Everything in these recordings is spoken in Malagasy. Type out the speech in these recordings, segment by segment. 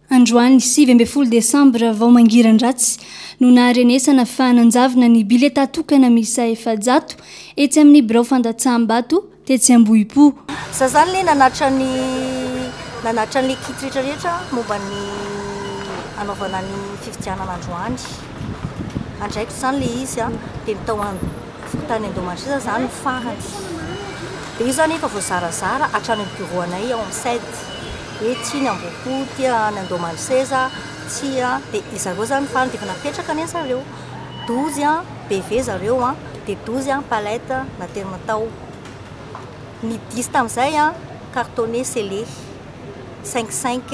Androany sivy ambin'ny folo desambra vao mangiran-dratsy no naharenesana fa nanjavona ny bileta tokana miisa efajato etsy amin'ny birao fandatsaham-bato tetsy Ambohipo. Za zany le nanatra ny nanatra an'le kit rehetra rehetra momba ny hanaovana ny fifidianana androany. Andraikitro zany le izy a, de ny tao an. Fony tany Indomasia izany ny farany. Dia io izany efa voazarazara hatrany amin'ny bureau anay ao amin'ny CED. Hoe tsia ny Ambohipo, tsia ny Andohamanoseza, tsia. Dia ry zareo izany ny farany. Dia efa napetraka anie ry zareo. Dozy an, BV zareo an, dia dozy an, palette, naterina tao. Ny dix tamin'izay an, cartonné, scellé. Cinq cinq.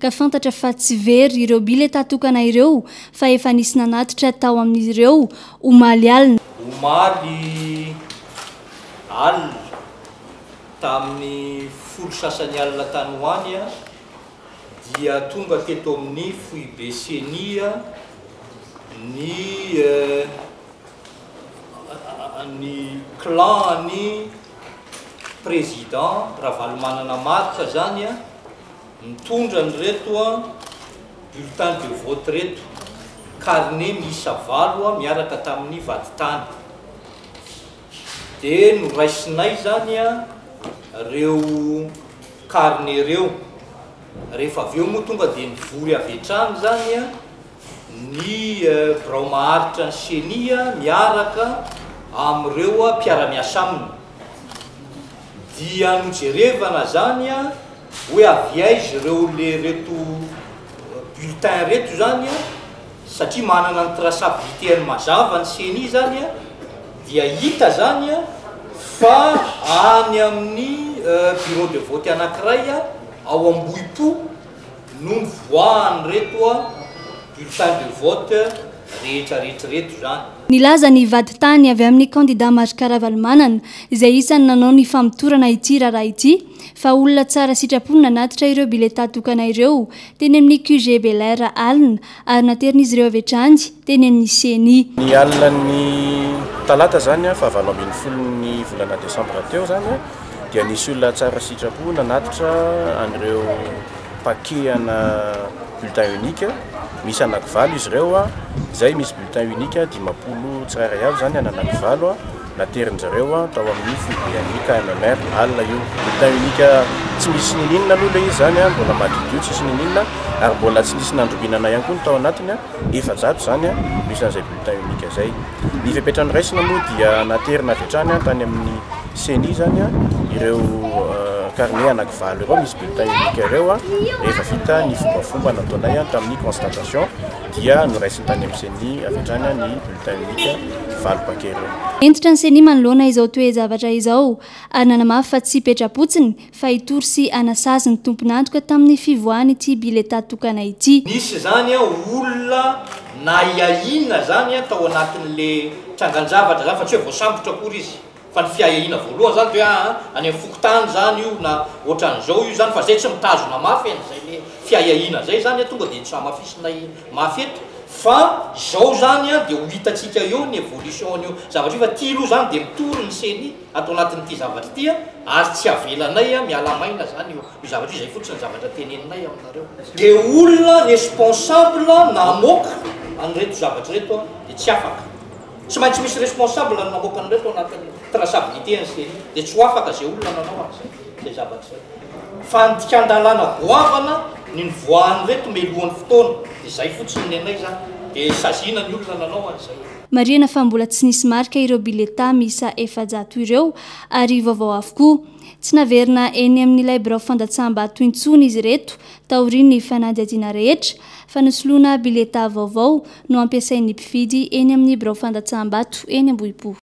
ka fantatra fa tsy very ireo bileta tokana ireo fa efa nisy nanatitra tao amin'izy ireo omaly alina. Omaly alina, tamin'ny folo sasany alina tany ho any, dia tonga teto amin'ny foibe Ceni ny ny clan an'ny Président Ravalomanana Marc izany, Mitondra an'ireto bulletins de vote ireto, carnet miisa valo miaraka tamin'ny vadintany. Dia noraisinay izany ireo carnet ireo. Rehefa avy eo moa tonga dia nivory avy hatrany izany ny birao maharitra ny ceni miaraka amin'ireo mpiara-miasa aminy. Dia nojerevana izany Hoe avy aiza ireo le reto bulletins reto zany a, satria manana ny traçabilité-ny mazava ny ceni zany a, dia hita zany a fa any amin'ny bureau de vote anankiray a ao Ambohipo no nivoahan'ireto bulletins de vote rehetra rehetra ireto zany. Nilaza ny vadintany avy amin'ny kandida Marc Ravalomanana, izay isan'ny nanao ny famotorana ity raharaha ity, fa olona tsara sitrapo no nanatitra ireo biletà tokana ireo teny amin'ny QG Bel Air alina ary naterin'izy ireo avy hatrany teny amin'ny ceni. Ny alin'ny talata izany fahavalo ambin'ny folon'ny volana desambra teo izany dia nisy olona tsara sitrapo nanatitra an'ireo mpakehana bulletin unique misy anakivalo izy ireo izay misy bulletin unique dimampolo tsirairay avy izany an'anakivalo. Naterin-dry zareo tao amin'ny foibe an'i KMMR alina io. Bulletin unique tsy misy n'inon'inona aloha ilay izy izany, mbola madiodio tsisy n'inon'inona, ary mbola tsy nisy nandringanana ihany koa ny tao anatiny, efajato izany no isan'izay bulletin unique izay. Ny fepetra noraisina moa dia naterina avy hatrany tany amin'ny ceni izany ireo carnet anaky valo ireo misy bulletin unique ireo, rehefa vita ny fombafomba nataonay tamin'ny constatation dia noraisin'ny tany amin'ny ceni avy hatrany ny bulletin unique. Dynamique valo bakereo. Hentitra ny Ceni manoloana izao toe-javatra izao ary nanamafy fa tsy petra-potsiny fa hitory sy hanasazy ny tompon'antoka tamin'ny fivoahan'ity biletà tokana ity. Nisy izany olona nahiahiana izany tao anatin'ilay trangan-javatra izany fa tsy hoe voasambotra akory izy. Fa ny fiahiahiana voalohany izany dia hoe aa any amin'ny fokontany izany io na ohatran'izao io izany fa izay tsy mitazona mafy an'izay le fiahiahiana izay izany tonga dia tsy hamafisinay mafy eto fa izao izany dia ho hitantsika eo ny évolution an'io zavatra io fa ity aloha izany dia mitory ny ceni ato anatin'ity zavatra ity ary tsy avelanay miala maina izany io zavatra io izay fotsiny ny zavatra teneninay aminareo. Dia olona responsable namoaka an'ireto zavatra ireto dia tsy afaka. Tsy maintsy misy responsable ny mamoaka an'ireo tao anatin'ny traçabilité an'i Seri dia tsy ho afaka izay olona nanao an'izay izay zavatra izay. Fandikan-dalàna goavana ny nivoahan'ireto melohan'ny fotoana, izay fotsiny ny anay izany dia saziana ny olona nanao an'izay. Marihana fa mbola tsy nisy marika ireo biletà miisa efajato ireo ary vaovao avokoa. Tsy naverina eny amin'ilay birao fandatsaham-bato intsony izy ireto taorian'ny fanadihadiana rehetra fa ny soloana biletà vaovao no ampiasain'ny mpividy eny amin'ny birao fandatsaham-bato eny Ambohipo.